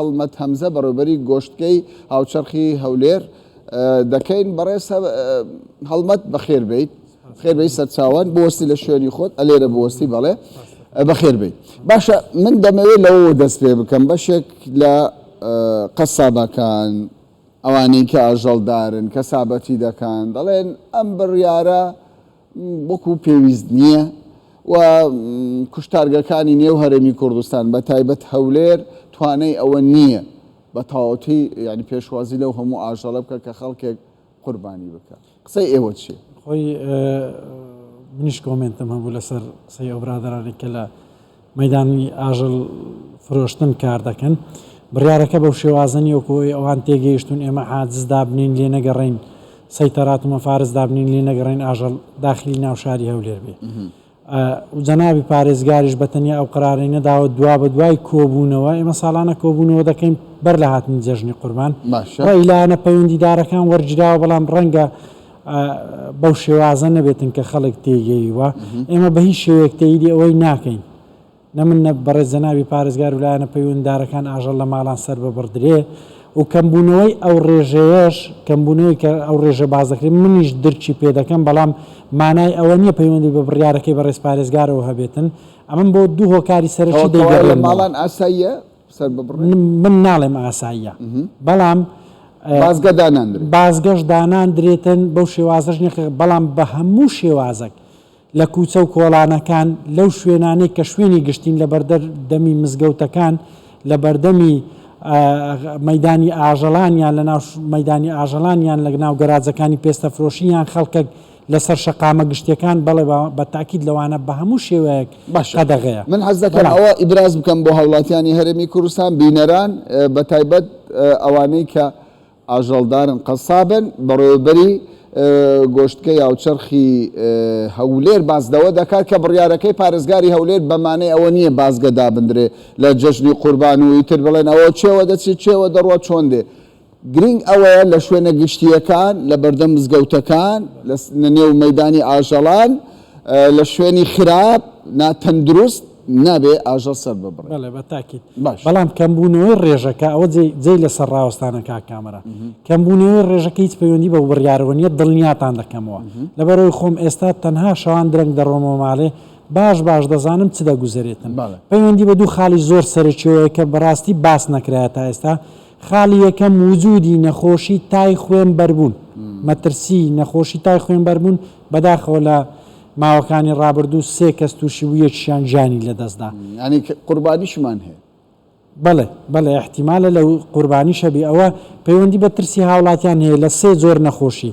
هەڵمەت هەمزە بەڕێوبەری گۆشتکەی هاوچەرخی هەولێر دەکەین بەڕێز هەڵمەت بەخێر بیت خێربەی سەرچاوان بۆستی لە شوێنی خۆت ئەلێرە بۆستی بەڵێ بەخێر بیت باشە من دەمەوێت لەوە دەست پێ بکەم بەشێک لە قەسابەکان ئەوانەی کە ئاژەڵدارن کە سابەتی دەکەن دەڵێن ئەم بڕیارە وەکو پێویست نییە و کوشتارگەکانی نێو هەرێمی کوردستان بە تایبەت هەولێر توانای ئەوە نییە بە تەواوەتی یانی پێشوازی لەو هەموو ئاژەڵە بکە کە خەڵکێک قوربانی بکە قسەی ئێوە چییە؟ خۆی منیش کۆمێنتم هەبوو لەسەر قسەی ئەو برادەرانەی کە لە مەیدانی ئاژەڵ فرۆشتن کار دەکەن، بڕیارەکە بەو شێوازە نیە وەکو ئەوەی ئەوان تێگەیشتون ئێمە حاجز دابنێین لێ نەگەڕێین سەیتەرات و مەفارز دابنێین لێ نەگەڕێین ئاژەڵ داخلی ناو شاری هەولێر بێ و جەنابی پارێزگاریش بە تەنیا ئەو قرارەی نەداوە دوا بە دوای کۆبوونەوە ئێمە ساڵانە کۆبوونەوە دەکەین بەر لە هاتنی جەژنی قوربان ئیلانە پەیوەندیدارەکان وەرگیراوە بەڵام ڕەنگە بەو شێوازە نەبێتن کە خەڵک تێیگەیوە ئێمە بە هیچ شێوەیەک تەیدی ئەوەی ناکەین نە من نە بەڕێز جەنابی پارێزگار و لایەنە پەیوەنددارەکان ئاژەڵ لە ماڵان سەر ببڕدرێ و کەمبوونەوەی ئەو ڕێژەیەش کەمبوونەوەی کە ئەو ڕێژە باز دەکرێت منیش درکی پێ دەکەم بەڵام مانای ئەوە نییە پەیوەندی بە بڕیارەکەی بەڕێز پارێزگارەوە هەبێتن ئەمن بۆ دوو هۆکاری سەرەکی دەیگەڕێنەوە. ماڵان ئاساییە؟ سەر ببڕێ؟ من ناڵێم ئاساییە بەڵام بازگە داناندرێت بازگەش داناندرێتن بەو شێوازەش نیە کە بەڵام بە هەموو شێوازەک لە کوچە و کۆڵانەکان لەو شوێنانەی کە شوێنی گشتین لە بەردەر دەمی مزگەوتەکان لە بەردەمی مەدانی ئاژەڵان یان لە ناو مەدانی ئاژەڵان یان لە ناو گەراجەکانی پێستە فرۆشی یان خەڵکە لەسەر شەقامە گشتیەکان بەڵێ بە تاکید لەوانە بە هەموو شێوەیەک قەدەغەیە. من حەز دەکەم ئەوە ئیبراز بکەم بۆ هاوڵاتیانی هەرێمی کوردستان بینەران بە تایبەت ئەوانەی کە ئاژەڵدارن قەسابن بەڕێوەبەری گۆشتکەی هاوچەرخی هەولێر باس لەوە دەکات کە بڕیارەکەی پارێزگاری هەولێر بە مانەی ئەوە نییە بازگە دابندرێ لە جەژنی قوربان و ئیتر بڵێن ئەوە چێوە دەچێ چێوە دەڕوا چۆن دێ گرینگ ئەوەیە لە شوێنە گشتییەکان، لە بەردەم مزگەوتەکان، لە نێو مەیدانی ئاژەڵان، لە شوێنی خراپ، نا تەندروست، نابێ ئاژەڵ سەر ببڕێ. بەڵێ بە تاکید. باش. بەڵام کەمبوونەوەی ڕێژەکە، ئەوە جێی جێی لە سەر ڕاوەستانە کاک کامەران. کەمبوونەوەی ڕێژەکە هیچ پەیوەندی بە بڕیارەوە نییە، دڵنیاتان دەکەمەوە. لەبەر ئەوەی خۆم ئێستا تەنها شەوان درەنگ دەڕۆمەوە ماڵێ، باش باش دەزانم چ دەگوزەرێتن. بەڵێ. پەیوەندی بە دوو خاڵی زۆر سەرەکییەوە هەیە کە بە ڕاستی باس نەکرایە تا ئێستا. خاڵی یەکەم وجودی نەخۆشی تای خوێن بەربوون مەترسی نەخۆشی تای خوێن بەربوون بەداخەوە لە ماوەکانی ڕابردوو سێ کەس تووشی بوو یەکشیان گیانی لەدەستدا ینی قوربانیشمان هەیە بەڵێ بەڵێ احتیمالە لە قوربانیشەبی ئەوە پەیوەندی بە ترسی هاوڵاتیان هەیە لە سێ جۆر نەخۆشی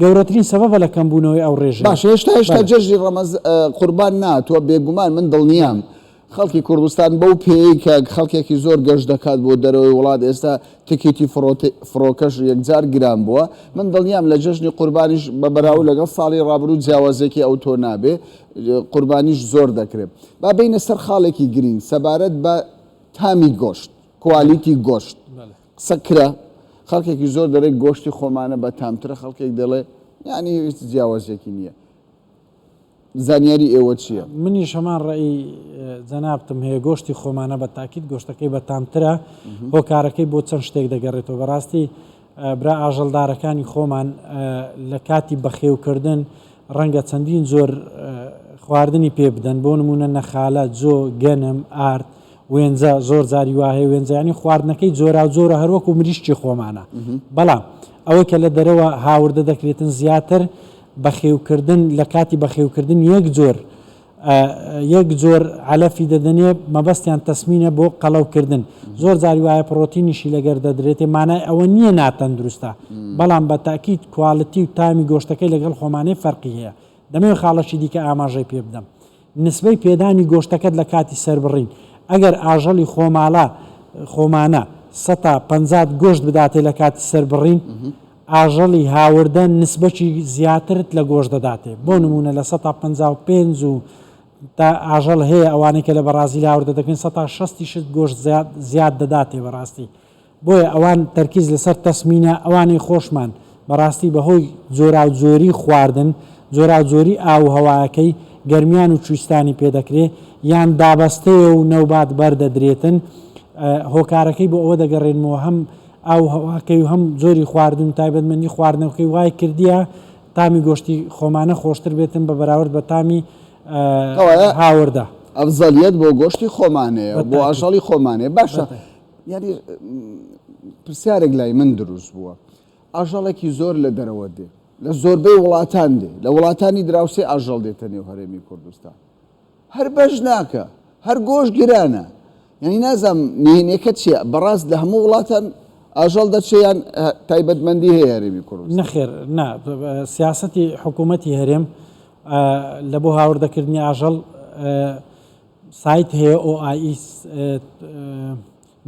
گەورەترین سەبەبە لە کەمبوونەوەی ئەو ڕێژەیە. باشە هێشتا هێشتا جەژنی ڕەمەز قوربان نەهاتووە بێگومان من دڵنیام خەڵکی کوردستان بەو پێیەی کە خەڵکێکی زۆر گەشت دەکات بۆ دەرەوەی وڵات ئێستا تکیتی فڕۆکەش یەکجار گران بووە من دڵنیام لە جەژنی قوربانیش بە بەراو لەگەڵ ساڵی ڕابروو جیاوازێکی ئەو تۆ نابێ قوربانیش زۆر دەکرێت با بینە سەر خاڵێکی گرین سەبارەت بە تامی گۆشت کوالیتی گۆشت قسە کرا خەڵکێکی زۆر دەڵێ گۆشتی خۆمانە بە تامترە خەڵکێک دەڵێ یانی هیچ جیاوازیەکی نییە زانیاری ئێوە چییە؟ منیش هەمان ڕێی جەنابتم هەیە گۆشتی خۆمانە بە تاکیت گۆشتەکەی بە تامترە هۆکارەکەی بۆ چەند شتێک دەگەڕێتەوە بەڕاستی برا ئاژەڵدارەکانی خۆمان لە کاتی بەخێوکردن ڕەنگە چەندین زۆر خواردنی پێ بدەن بۆ نمونە نەخالە جۆ گەنم ئارد وێنجە، زۆر جاری وا هەیە وێنجە یانی خواردنەکەی جۆراوجۆرە هەر وەکوو مریشکی خۆمانە، بەڵام ئەوەی کە لە دەرەوە هاوردە دەکرێتن زیاتر بەخێوکردن لە کاتی بەخێوکردن یەک جۆر یەک جۆر عەلەفی دەدەنێ مەبەستیان تەسمینە بۆ قەڵەوکردن زۆر جاری وایە پڕۆتینیشی لەگەر دەدرێتێ مانای ئەوە نییە ناتەندروستە بەڵام بە تاکیت کوالتی و تامی گۆشتەکەی لەگەڵ خۆمانەی فەرقی هەیە دەمەوێت خاڵەشی دیکە ئاماژەی پێ بدەم نسبەی پێدانی گۆشتەکەت لە کاتی سەربڕین، ئەگەر ئاژەڵی خۆماڵە، خۆمانە، سە تا پەنجات گۆشت بداتێ لە کاتی سەربڕین، ئاژەڵی هاوردە نسبەکی زیاترت لە گۆشت دەداتێ، بۆ نموونە لە سە تا پەنجا و پێنج و تا ئاژەڵ هەیە ئەوانەی کە لە بەڕازیل هاوردە دەکرێن سە تا شەست یشت گۆشت زیاد دەداتێ بەڕاستی بۆیە ئەوان تەرکیز لەسەر تەسمینە ئەوانەی خۆشمان بەڕاستی بەهۆی جۆراو جۆری خواردن جۆراو جۆری ئاو و هەوایەکەی گەرمیان و چویستانی پێ دەکرێ یان دابەستەیە و نەوبات بەر دەدرێتن هۆکارەکەی بۆ ئەوە دەگەڕێنمەوە هەم ئاو هەواکەی و هەم جۆری خواردن و تایبەتمەندی خواردنەوەکەی وای کردیە تامی گۆشتی خۆمانە خۆشتر بێتن بە بەراورد بە تامی کەوایە هاوردە. ئەفزەلیەت بۆ گۆشتی خۆمانەیە و بۆ ئاژەڵی خۆمانەیە باشە یانی پرسیارێک لای من دروست بووە ئاژەڵێکی زۆر لە دەرەوە دێ لە زۆربەی وڵاتان دێ لە وڵاتانی دراوسێ ئاژەڵ دێتە نێو هەرێمی کوردستان هەر بەش ناکە هەر گۆش گرانە یعنی نازم نهێنێکە چیە بەڕاست لە هەموو وڵاتان ئاژەڵ دەچیان تایبەتمەندی هەیە هەرێمی کوڕ نەخێر نا سیاستی حکوومەتی هەرێم لە بۆ هاوردەکردنی ئاژەڵ سایت هەیە OIS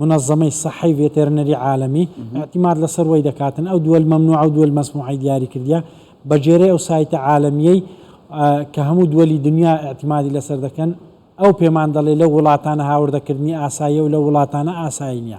منەزەمەی سەحەی ڤێتێرنەری عالەمی ئەعتیماد لەسەر وەی دەکاتن ئەو دووەل مەمنوعە و دووەل مەسموعەی دیاری کردیە بە جێرەی ئەو سایتە عالەمیەی کە هەموو دووەلی دنیا ئەعتیمادی لەسەر دەکەن ئەو پێمان دەڵێ لە وڵاتانە هاوردەکردنی ئاساییە و لە وڵاتانە ئاسایی نیە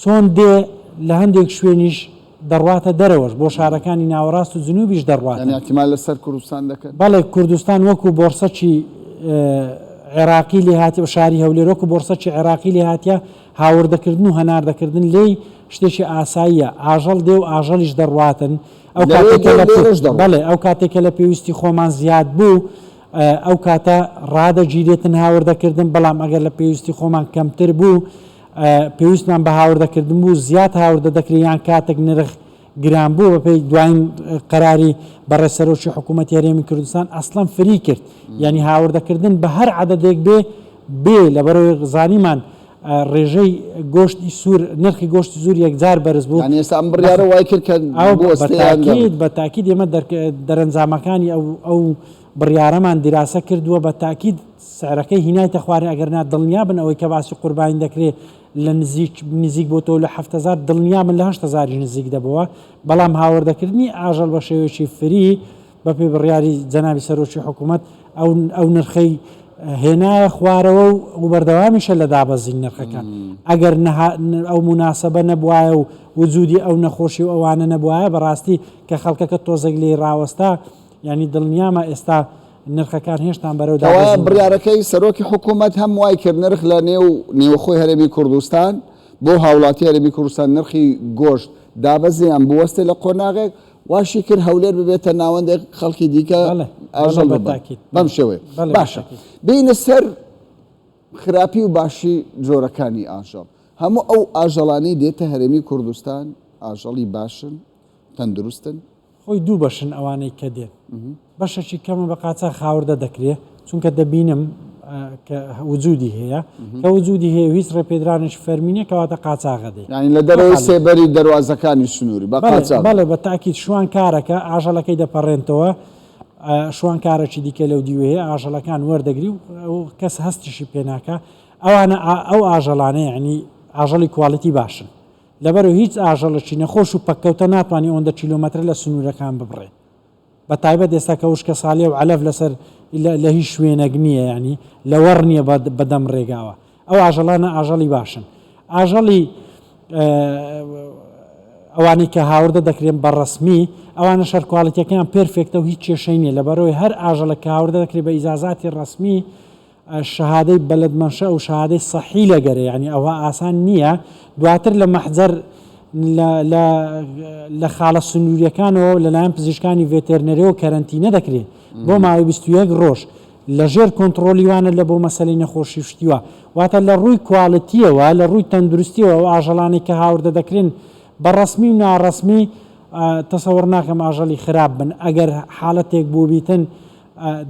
چۆن دێ لە هەندێک شوێنیش دەڕواتە دەرەوەش، بۆ شارەکانی ناوەڕاست و جنوبیش دەڕواتە. یانی ئیعتیماد لە سەر کوردستان دەکەن؟ بەڵێ کوردستان وەکو بۆڕسەکی عێراقی لێ هاتیە و شاری هەولێر وەکو بۆڕسەکی عێراقی لێ هاتیە، هاوردە کردن و هەناردە کردن لێی شتێکی ئاساییە، ئاژەڵ دێ و ئاژەڵیش دەڕواتن، ئەو کاتەی کە لە پێ بەڵێ ئەو کاتەی کە لە پێویستی خۆمان زیاد بوو ئەو کاتە ڕادەگیرێتن هاوردە کردن، بەڵام ئەگەر لە پێویستی خۆمان کەمتر بوو پێویستمان بە هاوردە کردن بوو زیاد هاوردە دەکرێت یان کاتێک نرخ گران بوو بەپێی دوایین قەراری بەڕێ سەرۆکی حکوومەت هەرێمی کوردستان ئەسڵەن فری کرد یعنی هاوردەکردن بە هەر عادەدێک بێ بێ لە بەرەوەی غزانیمان ڕێژەی گۆشتی سوور نرخی گۆشتی زور یەکجار بەرز بوو ئێستا ئەم بڕیارە وای کرد کە بە تاکید ئێمە دەرەنجامەکانی ئەو بڕیارەمان دیراسە کردووە بە تاکید سعرەکەی هینایتە خوارێ ئەگەر نا دڵنیا بن ئەوەی کە باسی قوربانی دەکرێ لە نزیک نزیک بۆتەوە لە هەفت هەزار دڵنیا بن لە هەشت هەزاریش نزیک دەبەوە بەڵام هاوردەکردنی ئاژەڵ بە شێوەیەکی فری بەپێی بڕیاری جەنابی سەرۆکی حکوومەت ئەو ئەو نرخەی هێنایە خوارەوە و وبەردەوامیشە لە دابەزین نرخەکان ئەگەر ئەو مناسبە نەبواە و وجودی ئەو نەخۆشی و ئەوانە نەبواە بەڕاستی کە خەڵکەکە تۆزێک لێی ڕاوەستا یانی دڵنیامە ئێستا نرخەکان هێشتان بەرەو دابەزین دەڕۆن؟ کەوایە بڕیارەکەی سەرۆکی حکوومەت هەم وای کرد نرخ لە نێو نێوخۆی هەرێمی کوردستان بۆ هاوڵاتی هەرێمی کوردستان نرخی گۆشت دابەزێ یان بوەستێ لە قۆناغێک واشی کرد هەولێر ببێتە ناوەندێک خەڵکی دیکە بەڵێ بەڵێ ئاژەڵ بە ببن تاکید بەم بەڵێ شێوەیە بەڵێ بە باشە تاکید بێینە سەر خراپی و باشی جۆرەکانی ئاژەڵ هەموو ئەو ئاژەڵانەی دێتە هەرێمی کوردستان ئاژەڵی باشن تەندروستن خۆی دوو بەشن ئەوانەی کە دێن بەشەکی کەمە بە قاچاخ هاوردە دەکرێ چونکە دەبینم کە وجودی هەیە کە وجودی هەیە هیچ ڕێپێدرانش فەرمینە کەواتە قاچاغە دێ ینی لە دەرەوەی سێبەری دەواازەکانی سنووری بەڵێ بە تاکیت شوان کارەکە ئاژەلەکەی دەپەڕێنتەوە شوانکارەکی دیکە لەو دیوەیە ئاژەلەکان وەردەگری و کەس هەستیشی پێناکە ئەوانە ئەو ئاژەڵانەیە عنی ئاژەڵی کوالڵیتی باشن لەبەرو هیچ ئاژەڵەکی نەخۆش و پەککەوتە ناتوانی ئۆندە کیلۆمەترە لە سنوورەکان ببڕێ بە تایبەت ئێستا کە وشکەساڵیە و عەلەف لەسەر لە هیچ شوێنەک نییە یانی لەوەڕ نییە بەدەم ڕێگاوە ئەو ئاژەڵانە ئاژەڵی باشن ئاژەڵی ئەوانەی کە هاوردە دەکرێن بە ڕسمی ئەوانە شەرکواڵیتەکەیان پرفێکتە و هیچ کێشەی نیە لەبەرەوەی هەر ئاژەڵە کە هاوردە دەکرێت بە ئیزازاتی ڕسمی شەهادەی بەلەد مەنشە و شەهادەی سەحی لە گەرە یانی ئەوها ئاسان نیە دواتر لە مەحجەر لە لە لە خاڵە سنووریەکانەوە لەلایەن پزیشکانی ڤێتێرنەرەوە کەرەنتینە دەکرێت بۆ ماوەی 21 ڕۆژ لە ژێر کۆنتڕۆلی وانە لە بۆ مەسەلەی نەخۆشی شتیوە واتە لە ڕووی کوالتیەوە لە ڕووی تەندروستیەوە و ئاژەڵانی کە هاوردە دەکرێن بە ڕسمی و ناڕسمی تەسەوەڕ ناکەم ئاژەڵی خراپ بن ئەگەر حاڵەتێک بووبیتن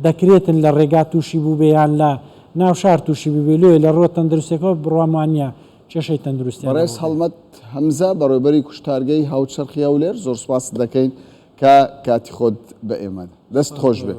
دەکرێتن لە ڕێگا تووشی بووبێ یان لە ناو شار تووشی بووبێ لۆیە لە ڕووە تەندروستیەکەوە بڕوام وانیە کێشەی تەندروستیان بەڕێز لەوە بێت. هەڵمەت هەمزە، بەڕێوەبەری کوشتارگەی هاوچەرخی هەولێر، زۆر سوپاست دەکەین کە کاتی خۆت بە ئێمە دا. دەست خۆش بێت.